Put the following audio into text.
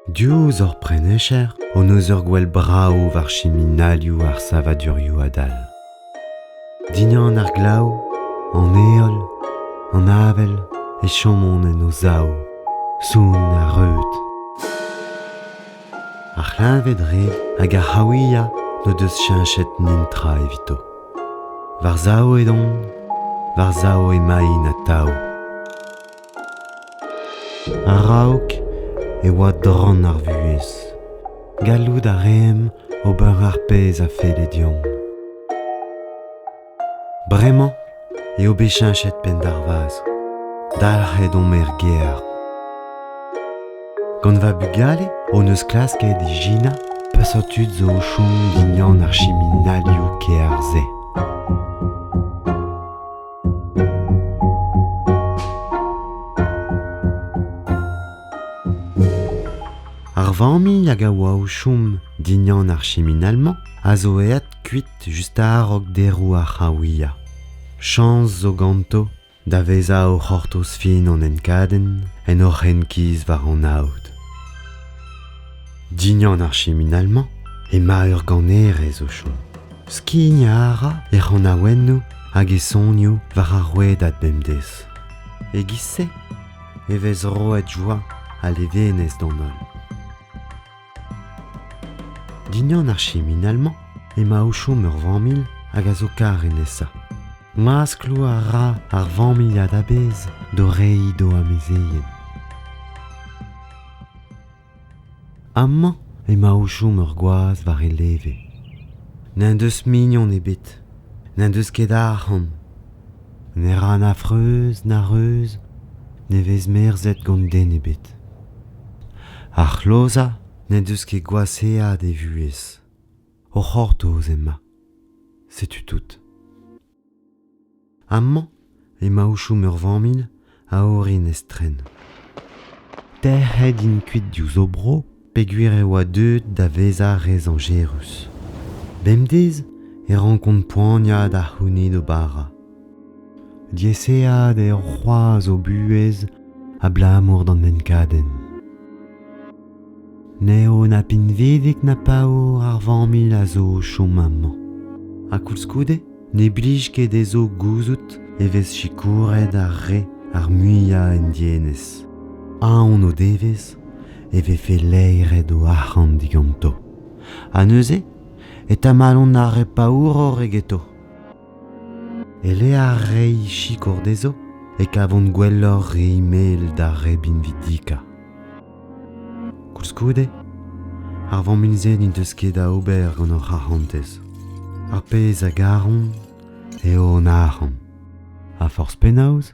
Diouzh hor prenescher hon eus ur gwell brav war chiminalioù ar savadurioù adal. Dindan ar glav, an heol, an avel e chomont en o sav, soun ha reud. Ar c'hleñved-re hag ar c'haouiañ n'o deus cheñchet netra evito. War sav edon, war sav emaint atav. A-raok e oa dran ar vuhez. Gallout a reemp ober ar pezh a felle deomp. Bremañ eo bet cheñchet penn d'ar vazh. Dalc'het omp er gêr. Gant va bugale hon eus klasket ijinañ peseurt tud zo o chom dindan ar chiminalioù kêr-se. Ar familh hag a oa o chom dindan ar chiminal-mañ a zo aet kuit just a-raok deroù ar c'hraouiañ. Chañs zo ganto da vezañ o c'hortoz fin hon enkadenn en hor renkiz war hon aod. Dignan ar chiminail-mañ emañ ur ganerez o chom. Skign a ra e c'hanaouennoù hag e sonioù war ar rouedad bemdez. E-giz-se e vez roet joa ha levenez d'an holl. Dindan ar chiminell-mañ emañ o chom ur familh hag a zo kar e nesañ. Ma skloa a ra ar familhad a-bezh d'o reiñ d'o amezeien. Amañ emañ o chom ur gwaz war e leve. N'en deus mignon ebet, n'en deus ket arc'hant, Ne ra na freuz na reuz, ne vez merzet gant den ebet. Ar c'hlozañ n'en deus ket gwashaat e vuhez. O c'hortoz ema. Setu tout. Amañ emañ o chom ur familh a orin estren. Tec'het int kuit diouzh o bro peogwir e oa deuet da vezañ re zañjerus. Bemdez e rankont poaniañ da c'hounit o bara. Diaeseat eo c'hoazh o buhez abalamour d'an enkadenn. N'eo na pinvidik na paour ar familh a zo o chom amañ. Ha koulskoude ne blij ket dezho gouzout e vez sikouret ar re ar muiañ en dienez. Aon o devez e vefe laeret o arc'hant diganto. Ha neuze e tamalont ar re paouroc'h egeto. Eleac'h rei sikour d'ezo, e kavont gwelloc'h re mel d'ar re binvidika. Koulskoude, ar vammuzed n'en deus ket da ober gant o c'harantez. Ar pezh a garont eo an arc'hant. Ha forzh penaos,